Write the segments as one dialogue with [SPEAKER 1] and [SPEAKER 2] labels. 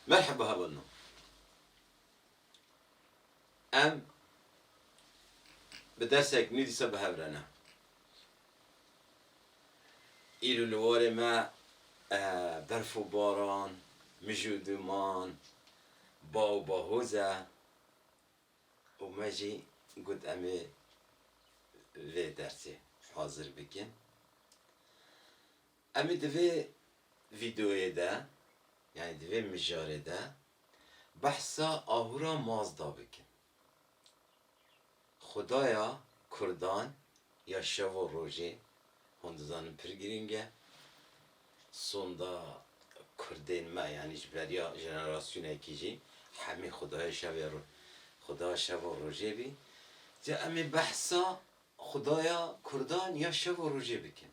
[SPEAKER 1] Merheba hevalno em bi dersek nû dîsa bi hev re ne. Îro li warê me berf û baran, mij û dûman, ba û bahoz e û me jî got em ê vê dersê hazir bikin. Em ê di vê vîdeoyê de yanî di vê mijarê de behsa Ahura Mazda bikin. Xwedaya kurdan ya şev û rojê, hûn dizanin pir girîng e. Sonda kurdên me yanî ji beriya jenerasyonekî jî hemî xwedaya şevê xwedaya şev û rojê bî. Ca em ê behsa xwedaya kurdan ya şev û rojê bikin.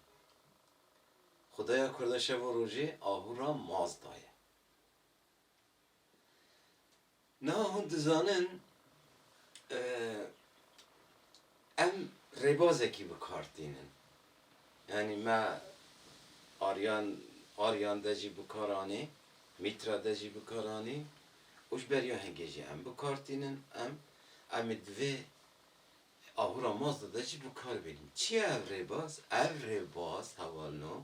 [SPEAKER 1] Xwedaya Kurda şev û rojê ahu ra maz daye. Niha hûn dizanin em rêbazekî bi kar tînin. Yanî me Aryan Aryan de jî bi kar anî, Mîtra de jî bi kar anî û ji ber ya hingê jî em bi kar tînin. Em em ê di vê Abûra Mazda de jî bi kar bêrîn. Çi ye ev rêbaz? Ev rêbaz hevalno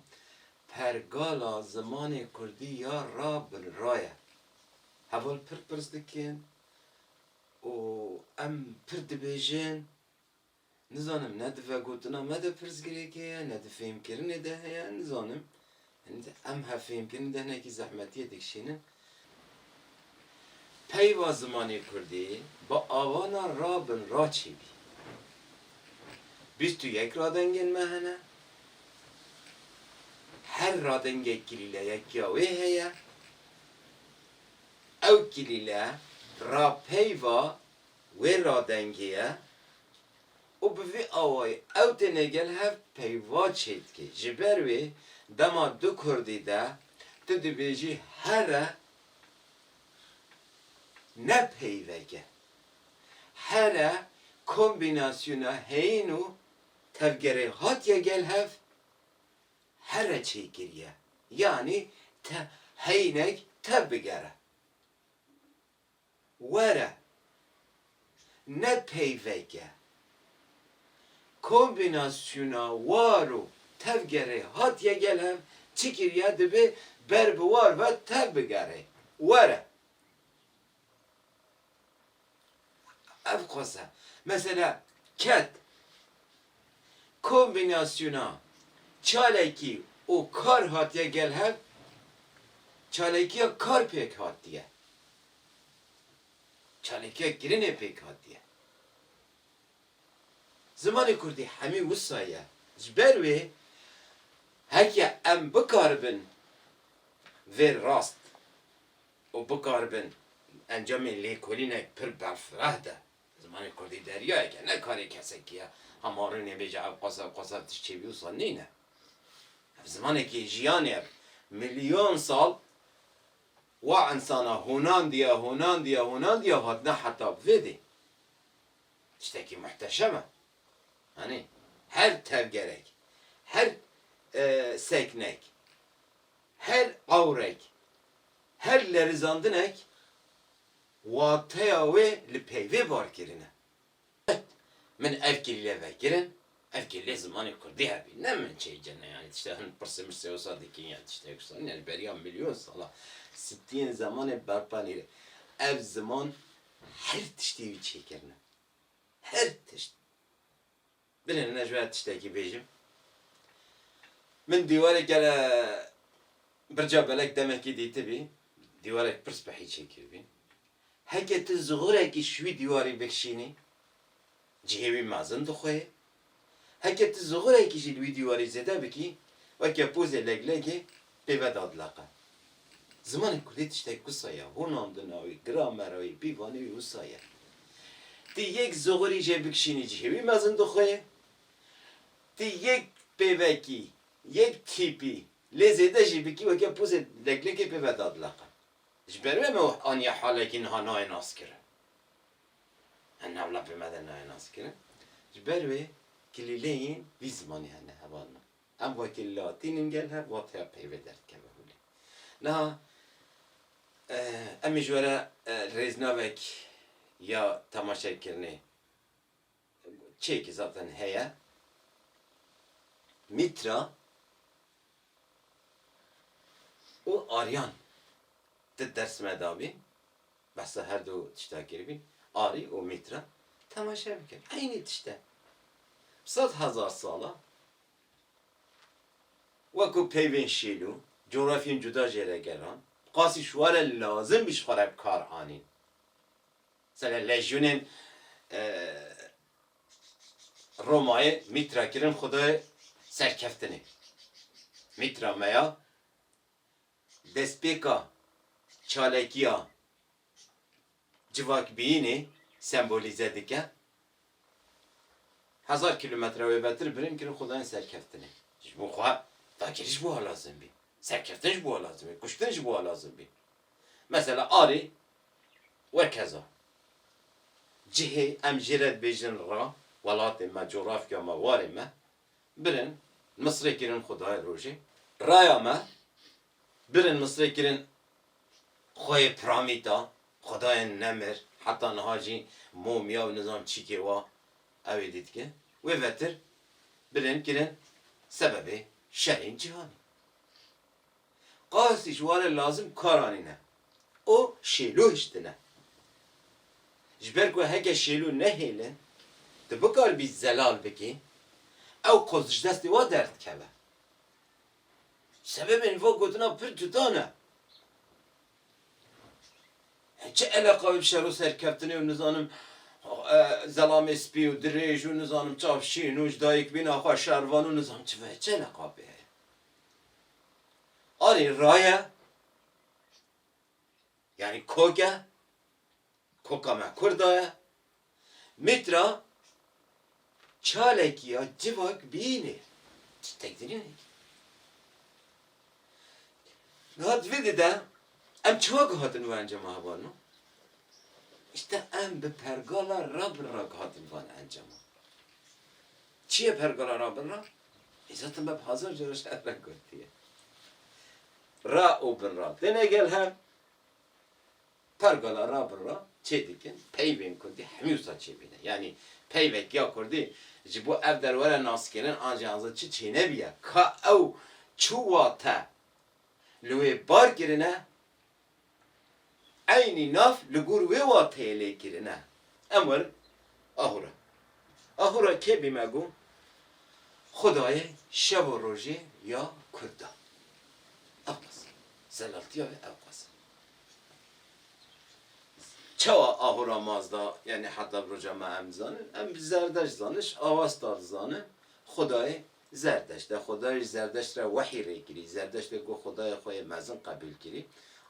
[SPEAKER 1] pergala zimanê kurdî ya ra bin ra ye. Heval pir pirs dikin û em pir dibêjin. Nizanim ne di vegotina me de pirsgirêkê ye, ne di fêhmkirinê de heye, nizanim Em hevfêmkirin di hinekî zehmetiyê dikişînin. Peyva zimanê kurdî bi avana ra bin ra çêbî. Bîst û yek radengên me hene. Her radengek kilîleyekiya wê heye. Ew kilîle ra peyva wê radengê ye. Û bi vî awayî ew tenê gel hev peyva çêdikê. Ji ber wê dema du kurdî de tu dibêjî here ne peyveke. Here kombînasyona heyîn û tevgerê hatiye gel hev here çêkiriye. Yanî te heyînek tev bigere. Were ne peyveke kombînasyona war û tevgerê hatiye gel hev çi kiriye dibe ber bi war ve tev bigere. Were ev xwese. Mesela ket Kombînasyona çalakî û kar hatiye gel hev, çalakiya kar pêk hatiye. Çalakiya kirinê pêk hatiye. Zimanê kurdî hemî wisa ye. Ji ber wê heke em bikaribin vê rast û bikaribin encamê lêkolînek pir berfireh de Zimanê kurdî deryayek e, ne karê kesekî ye. Ha ma rûnê bêje ev qas ev qas ev tişt çêbî wisa nîne. Ev zimanekî jiyanê ev. Milyon sal wa insana hûnandiye, hûnandiye, hûnandiye û hatine heta vê dê. Tiştekî muhteşem e. Anî. Her tevgerek, her seknek, her ewrek, her lerizandinek Wateya wê li peyvê barkirin e. Qet min ev kêlîlê vekirin, ev kêlîlê zimanê kurdî hebî, ne min çê cene yanî tiştê hin pirsê mirsê wisa dikin ya tiştê wisa nî ya ji beriya milyon sala sitiyên zemanê berpa nîre. Ev ziman her tiştî wî çêkirine. Her tişt. Birêne ne ji ber tiştekî bêjim. Min dîwarê kele birca belek demekî dîtibî, dîwarek pirs bi hîçê kiribî. Heke tu zixurekî ji wî dîwarî bikişînî, cihê wî mezin dixwe ye. Heke tu zixurekî jî li wî dîwarî zêde bikî, weke pozê leglegê Pêve dadileqe. Zimanê kurdî tiştek wisa ye, hûnandina wî, gramera wî, pîvanê wî wisa ye. Ti yek zoxorî jê bikişînî cihê wî mezin dixweyê, ti yek pêvekî, yek tîpî lê zêde jî bikî weke pozê leklekê pêve dadileqe. Ji ber wê me aniye halekî niha nayê naskirin. Em navla pêve de nayê naskirin. Ji ber wê kilîleyên vî zimanê hene hevalina. Em wekî latîn in gel hev wateya peyve derdikeve holê. Niha em ê ji we re rêznavek ya temaşekirinê çêkî zaten heye. Mîtra û Aryan di dersime dabîn. Behsa her du tişta kiribî, Ari û Mîtra, temaşe bikin. Eynî tişt e. Sed hezar sal e wekû peyvên şîn û cografyên cuda jê re gelan bi qasî şware lazim bî ji xwe re bi kar anîn. Mesela lejyûnên Romayê Mîtra kirin xwedayê serkeftinê. Mîtra me ya Destpêka çalakiya civakbiyînê sembolîze dike. Hezar kîlometre wê betir birin kirî xwe dayên serkeftinê. Ji bo xwe dagirî ji bo we lazim bî. Serkeftin ji bo we lazim bî. Kuştin ji bo we lazim bî. Mesela arê wekeza. Cihê em jê re dibêjin ra, welatê me, coğrafya me, warê me, Birin misrê kirin xudayê rojê. Raya me, birin misrê kirin xweyê piramîta, xudayên nemir, heta niha jî momya û nizam çîkê wa ew ê dîtkin. Wê vetir birin kirin sebebê şerên cîhanê. Qasî ji wan e lazim kar anîne û şêlo hiştine. Ji ber ku heke şêlo nehêle tu bikaribî zelal bikî, ew qasî ji destê wan derdikeve. Sebebên van gotinan pir cuda ne. Çi eleqa bi şero serkeftinê û nizanim zelamê spî û dirêj û nizanim çav şîn û ji dayikbîna xwe şervan û nizanim çi ve çi eleqa pê heye? Arê raye yanî kok e, koka me kurda ye. Mîtra çalekî ya civak bînê ji tekdirînekî. Niha di vê dê de em çima ku hatin van encama hevalin o? Îşte em bi pergala rabirra ku hatin van encama. Çi ye pergala rabirra? Îzzetê me bi hezar cara ji hev re gotiye. Ra û bin ra têne gel hev. Pergala ra bin ra çê dikin. Peyvên kurdî hemî wisa çê bîne. Yanî peyvek ya kurdî ji bo ev derwere naskênin an jî an zin çi çê nebîya. Ka ew çi wate li wê bar kirine. Eynî nav li gor wê wateyê lê kirine. Em werin Ahura. Ahura kê bî me got, Xwedayê şev û rojê ya Kurdan. Ewqas e. Zelaltiya wê ewqas e. Çawa Ahura maz da, yanî heta roja me em dizanin? Em bi zerdeşt zaniş, avastar dizanin, Xwedayê Zerdeşt e, Xuda jî Zerdeşt re wehî rê kirî. Zerdeşt e ku Xudayê xwe yê mezin qebîl kirî,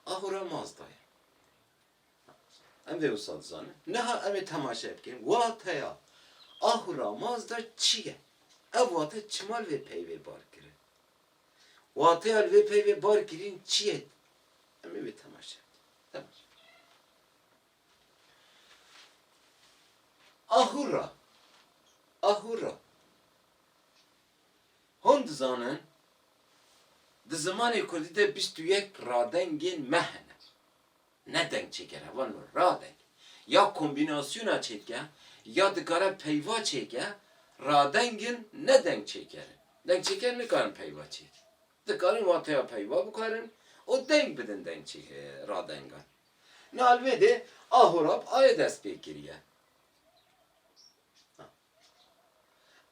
[SPEAKER 1] ahûra Mazda ye. Em vê wisa dizanin. Niha em ê temaşe bikin wateya ahûra Mazda çi ye? Ev wate çima li vê peyvê bar kirin? Wateya li vê peyvê bar kirîn çi ye? Em ê wê temaşe bikin. Temaşe. Ah hurra! Ah hurra! Hûn dizanin di zimanê kurdî de bîst û yek radengên me hene. Ne dengçêker e, van mir, radeng. Ya kombînasyona çêdike ya dikare peyva çêke, radeng in ne dengçêker in. Dengçêker nikarin peyva çêkin. Dikarin wateya peyva bikarin û deng bidin dengçê radengan. Nalbedê Ahurab aye dest pê kiriye.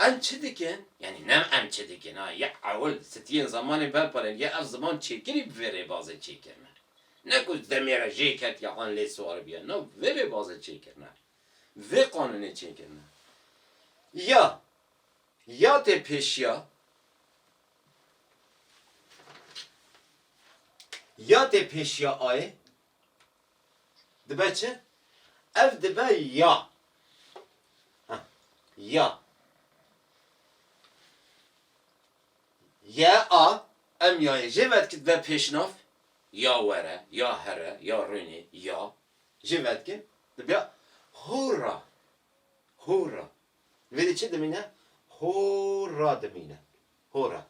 [SPEAKER 1] Em çi dikin? Yanî ne em çi dikin a ya ewil sitiyên zemanê berparên ya ev ziman çêkirî bi vê rêbazê çêkirine. Ne ku demê re jê ketiye an lê siwaribiye no bi vê rêbazê çêkirine. Bi vê qanûnê çêkirine. Ya ya tê pêşiya Ya tê pêşiya ayê dibe çi? Ev dibe ya. Heh, ya. Ya a, em yayê jê ve dikin dibe pêşnav. Ya were, ya here, ya rûnê, ya. Jê ve dikin dibe hûra, hûra. Vêrê çi dimîne? Hora dimîne. Hora.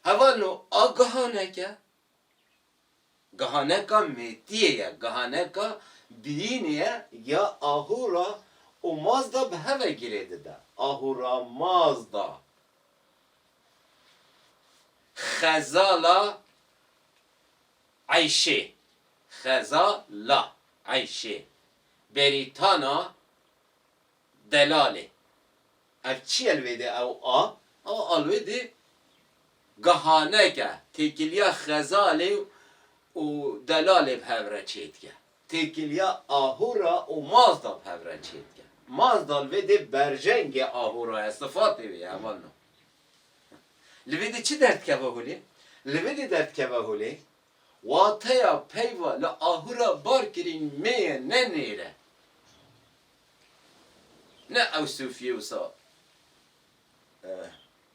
[SPEAKER 1] Hevano a gihanek e. Gihaneka mêtiyê ye. Gihaneka biyînê ye ya ahûra û mazda bi hev ve girê dide. Ahûra mazda. Xezala eyşê. Xeza la eyşê. Berîtana Delalê. Ev çi ye li wê dê ew a? Ew a li wê dê gihaneke têkiliya xezalê û delalê bi hev re çê dike. Têkiliya ahûra û mazda bi hev re çê dike. Mazda li vê dê berjengê ahûra ye, sifatê wê ye heval na. Li vê dê çi derdikeve holê? Li vê dê derdikeve holê Wateya peyva li ahura barkirîn mê ye ne nêre. Ne ew sofiyê wisa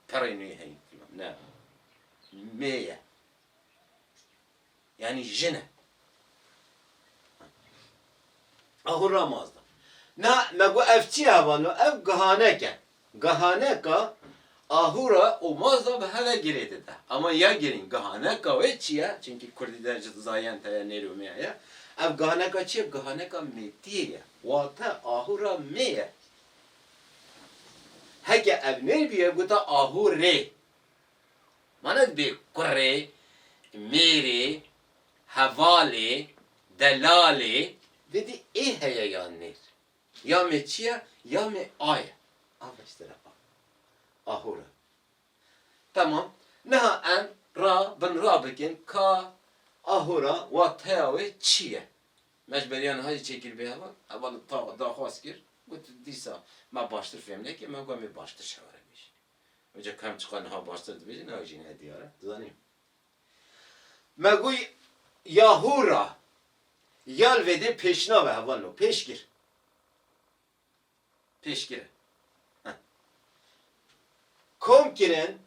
[SPEAKER 1] perê nê heye filan ne. Mê ye. Yanî jin e. Ahura mazda. Na me got ev çi hevano ev gihanek e. Gihaneka ahûra û mazda bi hev e girê dide. Ama ya girîng gihaneka wê çi ye? Çimkî kurdî de ji zayan te ye nêr û mêr ye. Ev gihaneka çi ye? Gihaneka mêtiyê ye. Wate ahûra mê ye. Heke ev nêr bûye gota ahû rê. Ma ne dibê kurê, mêrê, hevalê, delalê, didî ê heye yan nêr. Ya me çi ye, ya me a ye. A beşdere a. A hor e. Temam. Niha em ra bin ra bikin ka a hor a wateya wê çi ye. Me ji beriya niha jî çêkiribê heva. Heva li ta daxwaz kir, got dîsa me baştir fêm nekir, me got em ê baştir şeware bêjin. Oca ka em çiqas niha baştir dibêjin, ew jî ne diyar e. Dizanî? Me goy ya hûra yal vêdê pêşnave heval no pêşgir. Pêşgir e. Heh. Kom kirin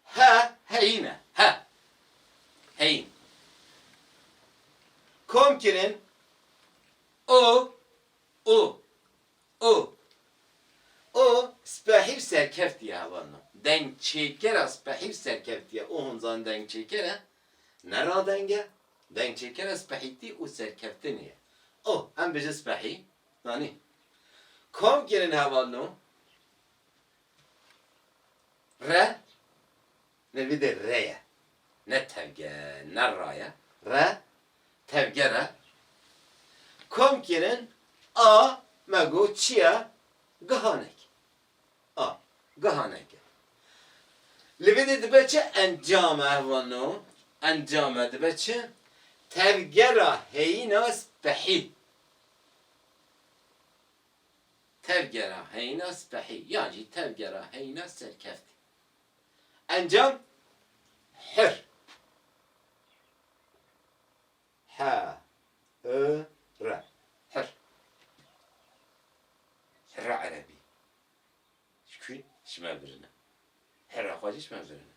[SPEAKER 1] he heyîn e. He. Heyîn. Kom kirin o u O O spehî û serkevt ye heval min. Dengçêkera spehî û serkevt ye. O hûn zanîn dengçêker e? Ne radeng e. Dengçêkera spehîtî û serkevtinê ye. O Em bijin spehî? Zanî. Kom kirin heval no? Re? Ne vîdê re ye. Ne tevge ne ra ye. Re tevger e. Kom kirin a me got çi ye? Gihanek. A gihanek e. Li vê dê dibe çi encam e vano? Encam e dibe çi? Tevgera heyîna spehî. Tevgera heyîna spehî yan jî tevgera heyîna serkeftî. Encam hir he i re hir hira erebî ji kû ji me birine hira xwe jî ji me birine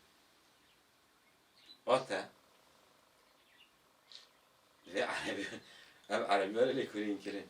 [SPEAKER 1] vate vê erebî ev erebî were lêkolîn kirin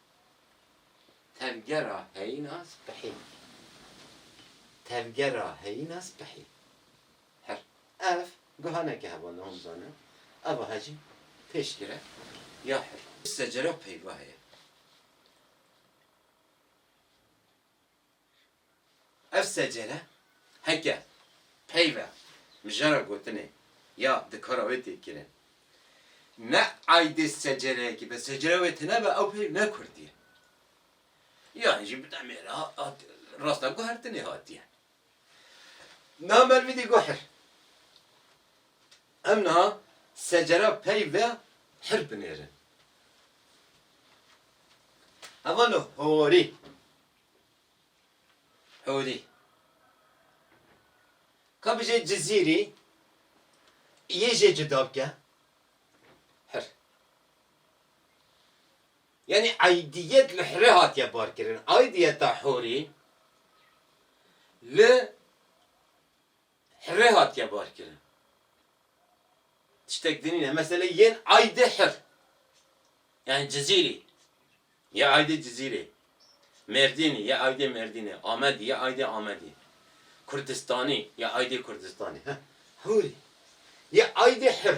[SPEAKER 1] Tevgera heyîna spihî Tevgera heyîna spihî Her ev guha ne ke hevon hom zanin eva he jî pêşgir e ya her secera peyva heye. Ev secere heke peyve mijara gotinê ya di kara wê tê kirin ne aydê secereyekî be, secere wê tune be ew peyv ne kurdî ye. Yanî jî bi demê re hat rasta guhertinê hatiye. Niha me li vî dî got hir. Em niha secera peyve hir binêrin. Heval horî. Hûrî. Ka bijî Cizîrî yê jê cuda bike. Hir. Yanî aîdîyet li hirê hatiye barkirin. Aîdîyeta hûrî li Hirê hatiye barkirin. Tiştek di nîne. Meselê yên Aydê Hir yanî Cizîrî yê Aydê Cizîrê, Mêrdînî yê Aydê Mêrdînê, Amedî yê Aydê Amedî, Kurdistanî yê Aydê Kurdistanê, he hûrî yê Aydê Hir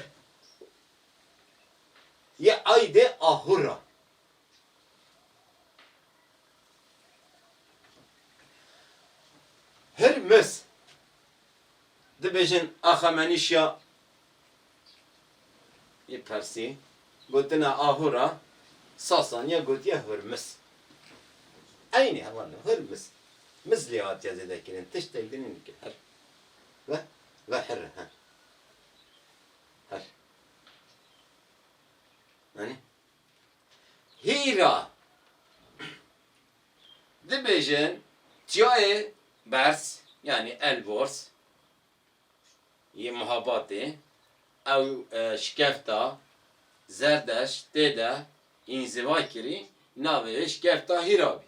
[SPEAKER 1] yê Aydê Ahûr a. Hurmuz, dibêjin Axamenîşya yê Persî, gotine aho re Sasaniya gotiye Hurmuz. Eynî heman e, Hurmuz. Muz lê hatiye zêdekirin, tiştek din nîn ki hir. Ve, ve hir e, he. Hir. Anî? Hîra, dibêjin çiyayê berz yanî elborz yê Mihabatê ew şikefta Zerdeşt tê de înzîva kirî navê wê şikefta Hîra bî.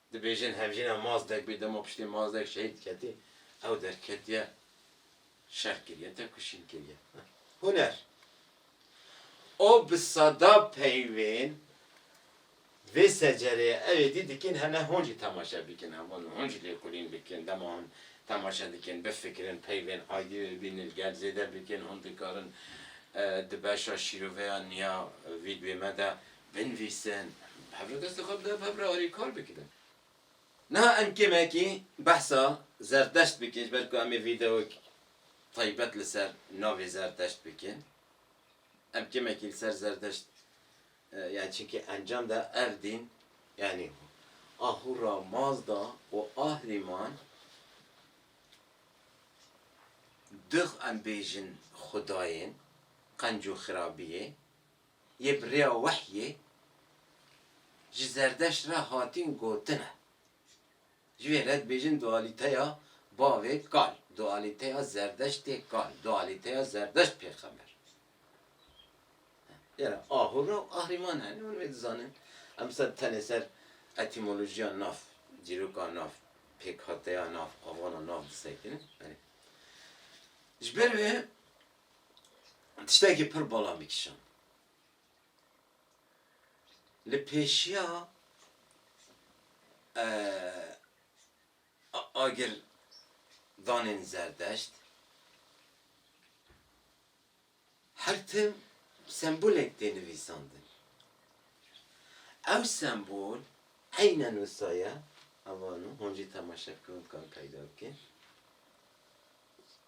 [SPEAKER 1] Dibêjin hevjîna Mazdek bê dema piştî Mazdek şehîd diketî ew derketiye şer kiriye tevkişîn kiriye. Huner O bi sada peyvên vê secereyê ew êdî dikin hene hûn jî temaşe bikin hewa hûn jî lêkolîn bikin dema hûn temaşe dikin bifikirin peyvên aydî wê bînin li gel zêde bikin hûn dikarin di beşa şîroveya niya vîdyoyê me de Binivîsin, bi hev re dest li xwe bidin, bi hev re alî kar bikin. Niha em kêmekî behsa Zerdeşt bikin, ji ber ku em ê vîdeoyek taybet li ser navê Zerdeşt bikin. Em kêmekî li ser Zerdeşt yanî çekî encam da ev dîn yanî Ahura Mazda û Ahriman dux em bêjin xwedayên qenc û xirabiyê. yê bi rêya wehyê ji Zerdeşt re hatîn gotin e. Ji vê re dibêjin dualîteya bavê kal, dualîteya Zerdeştê kal, dualîteya Zerdeşt pêxember. Lêra ahûra û ahrîman hene, hûn wê dizanin. Em disa tenê ser etîmolojiya nav, dîroka nav, pêkhateya nav, avana nav disekinin. Ji ber wê Tiştekî pir bala min kişand. Li pêşiya agir danên zerdeşt her tim sembolek tê nivîsandin. Ew sembol eynen wisa ye, ev anû hûn jî temaşe bikin û bikan peyda bikin.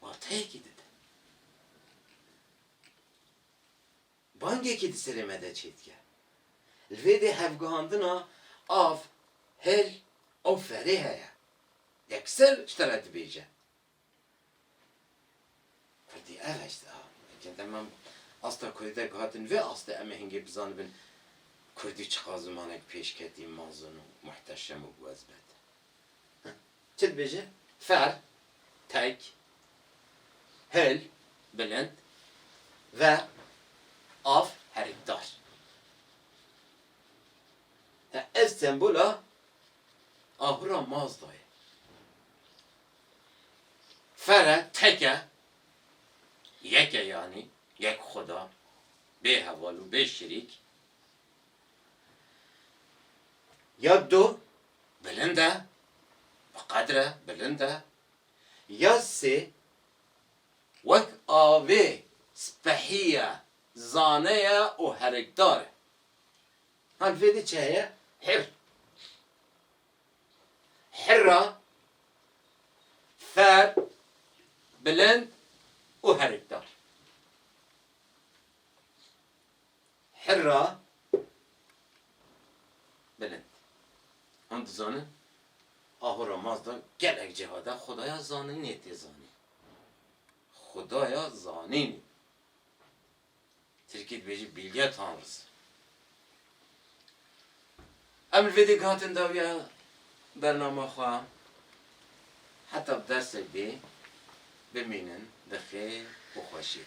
[SPEAKER 1] Wateyekî dide. Bangekî di serê me de çêdike. Li vê de hevgihandina av, hêl û ferê heye. Yekser ji te re dibêje. Erdî ev hişt a. Ke dema asta kurdî de gihatin vê astê em ê hingê bizanibin kurdî çiqas zimanek pêşketî, mezin û muhteşem û biwezbet e. Çi dibêje? Ferr, tek, hil, bilind, ve, av, herikdar. Ev sembola ahura Mazda ye. Fere, teke, yeke yanî yek xuda, bê heval û bê şirîk. Ya du, bilind e, bi qedr e, bilind e. Ya sê, wek avê spehî ye, zane ye û herikdar e. Hal vê di çi heye? Hir. Hirra, ferr, bilind û herikdar. Hirra, bilind. Hûn dizanin Ahura Mazda gelek cihad e xwedaya zaninê tê zanîn. Xwedaya zanînê. Tirkî dibêjî Bilge Tanrısı. Em li vê dê gihatin dawiya bernama xwe heta bi dersek dê bimînin bi xêr û xweşî.